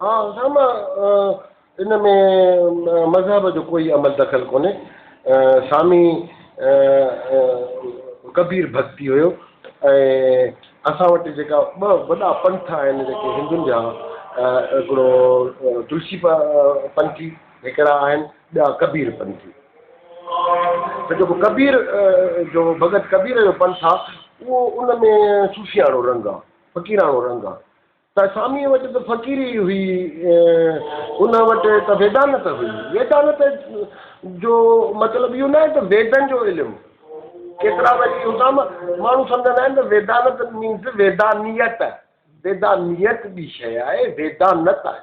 ها اسامه ان ۾ مذهب جو ڪوئي عمل دخل ڪونهي سامي ڪبير ڀڳتي هيو ۽ اسان وٽ جيڪا ٻه وڏا پنٿ آهن جيڪي هندن جا هڪڙو تلسي پنٿي هڪڙا آهن ٻيا ڪبير پنٿي ته جيڪو ڪبير جو ڀڳت ڪبير جو پنٿ آهي اهو ان ۾ صوفياڻو رنگ آهي فقيراڻو رنگ آهي ته ساميء وٽ ته فقيري ئي هئي، ان وٽ ته ويدانت هئي. ويدانت جو مطلب اهو ناهي ته ويدن جو علم، ڪيترا وري اتان ماڻهو سمجهندا آهن ته ويدانت مينز ويدانيت، ويدانيت ٻي شيء آهي، ويدانت آهي.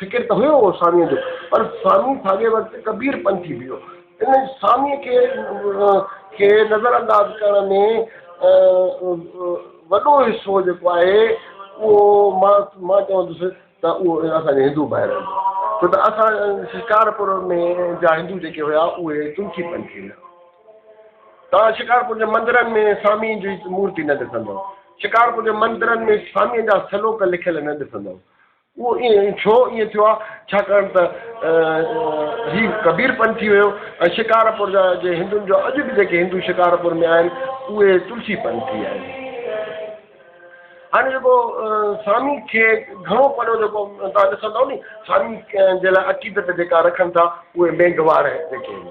فقير ته هيو هو ساميء جو، پر سامي ساڳئي وقت ڪبير پنٿي به هيو. ان ساميء کي کي نظر انداز ڪرڻ ۾ وڏو حصو جيڪو آهي اهو مان مان چوندس ته اهو اسان جي هندو ڀائرن جو آهي. ڇو ته اسان شڪارپور ۾ جا هندو جيڪي هيا اهي تنکي پنٿي هيا. توهان شڪارپور جي مندرن ۾ ساميء جي مورتي نه ڏسندؤ. شڪارپور جي مندرن ۾ ساميء جا سلوڪ لکيل نه ڏسندؤ. اهو ائين ڇو ائين ٿيو آهي؟ ڇاڪاڻ ته هي ڪبير پنٿ ٿي ويو ۽ شڪارپور جا جي هندن جو اڄ به جيڪي هندو شڪارپور ۾ آهن اهي تلسي پنٿي آهن. هاڻي جيڪو سامي کي گهڻو پريو جيڪو توهان ڏسندو ني سامي جي لاء عقيدت جيڪا رکن ٿا اهي مينگهواڙ جيڪي آهن.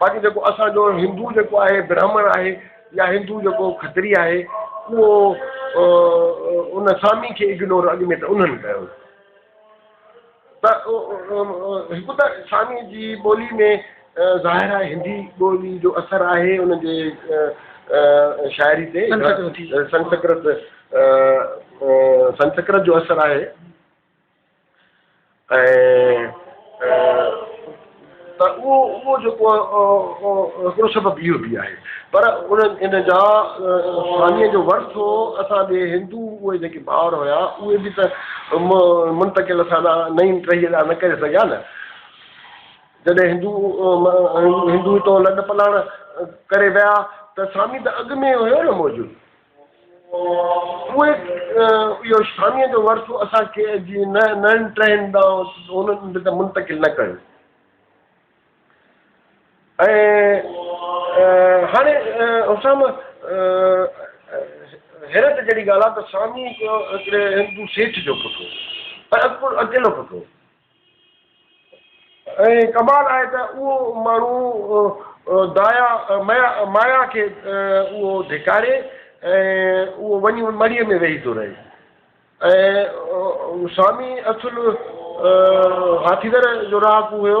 باقي جيڪو اسانجو هندو جيڪو آهي برهمڻ آهي يا هندو جيڪو کتري آهي اهو ان سامي کي اگنور اڳ ۾ ته انهن ڪيو ته هڪ ته سامي جي ٻولي ۾ ظاهر آهي هندي ٻولي جو اثر آهي ان جي شاعري تي سنسڪرت سنسڪرت جو اثر آهي ته اهو اهو جيڪو هڪڙو سبب اهو به آهي پر ان جا ساميء جو ورثو اسان ڏي هندو اهي جيڪي ٻار هيا اهي به ته منتقل اسان ڏانهن نئين ٽهيء ڏانهن نه ڪري سگهيا نه جڏهن هندو هندو هتو لڏ پلاڻ ڪري ويا ته سامي ته اڳ ۾ هيو نه موجود اهي اهو شانيء جو ورثو اسان کي جي نئين ٽهين ڏانهن هن به ته منتقل نه ڪيو. ۽ هاڻي حسام حيرت جهڙي ڳالهه آهي ته سامي هڪڙي هندو سيٺ جو پٽ هو ۽ اڪيلو پٽ هو. ۽ ڪمال آهي ته اهو ماڻهو دايا مايا کي اهو ڌڪاري ۽ اهو وڃي ان مڙهيء ۾ ويهي ٿو رهي ۽ سوامي اصل هاٿيدر جو رهاڪو هيو.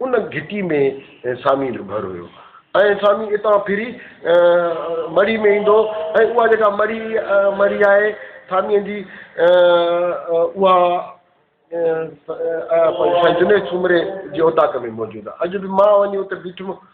ان گهٽي ۾ سامي جو گهر هيو ۽ سامي اتان ڦري مڙي ۾ ايندو ۽ اها جيڪا مڙي مڙي آهي ساميء جي اها جنيد سومري جي اوطاق ۾ موجود آهي. اڄ به مان وڃي اتي بيٺم.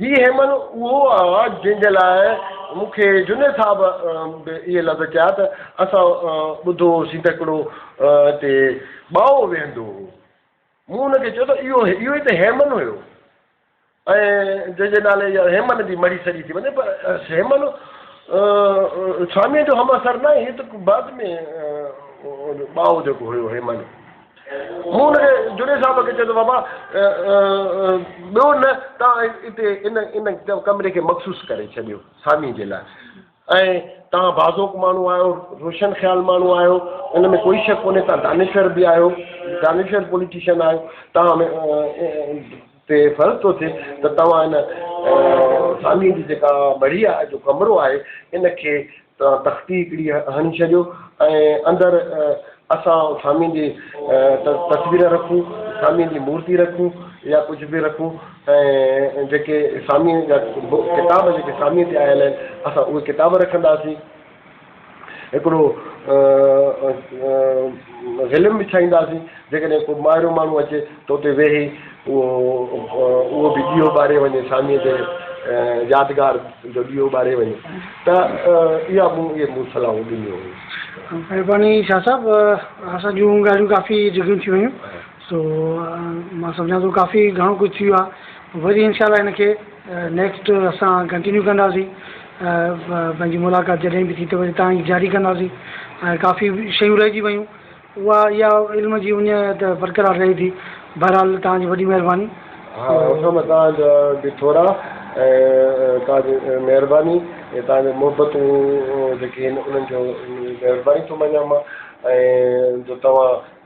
هي هيمن اهو آ جنهن جي لاء مون کي جنيد صاحب به اهي لفظ چيا ته اسان ٻڌو هوسين ته هڪڙو هتي ٻائو ويهندو هو. مون هن کي چيو ته اهو اهو ئي ته هيمن هيو ۽ جنهن جي نالي يا هيمن جي مڙهي سڏي ٿي وڃي پر هيمن سواميء جو همعصر ناهي هي ته بعد ۾ ٻائو جيڪو هيو هيمن. مون ان کي جنيد صاحب کي چيو ته بابا ٻيو نه ته اتي ان ان ڪمري کي مخصوص ڪري ڇڏيو سامي جي لاء ۽ توهان بازوڪ ماڻهو آهيو روشن خيال ماڻهو آهيو ان ۾ ڪوئي شڪ ڪونهي توهان دانشور به آهيو دانشور پوليٽيشن آهيو توهان تي فرض ٿو ٿئي ته توهان هن ساميء جي جيڪا مڙهيء جو ڪمرو آهي، ان کي توهان تختي هڪڙي هڻي ڇڏيو ۽ اندر اسان ساميء جي تصوير رکون، ساميء جي مورتي رکون يا ڪجهه به رکون ۽ جيڪي ساميء جا ڪتاب جيڪي ساميء تي آيل آهن، اسان اهي ڪتاب رکنداسين. هڪڙو غلم وڇائينداسين، جيڪڏهن ڪو مائرو ماڻهو اچي ته اتي ويهي اهو به ڏيئو ٻاري وڃي، ساميء جي يادگار جو ڏيئو ٻاري وڃي ته اها مون اهي مون صلاحون ڏنيون هيون. مهرباني شاهه صاحب، اسان جون ڳالهيون ڪافي جيگهيون ٿي ويون سو مان سمجهان ٿو ڪافي گهڻو ڪجهه ٿي ويو آهي. وري انشاء الله ان کي نيڪسٽ اسان ڪنٽينيو ڪنداسين پنهنجي ملاقات جڏهن به ٿي ته وري تان ئي جاري ڪنداسين ۽ ڪافي شيون رهجي ويون اها اها علم جي اڃ ته برقرار رهي ٿي بهرحال تان جي وڏي مهرباني ها حسن تان جا به ٿورا ۽ تان جي مهرباني ۽ تان جي محبتون جيڪي آهن انهن جو مهرباني ٿو مڃان مان ۽ جو توهان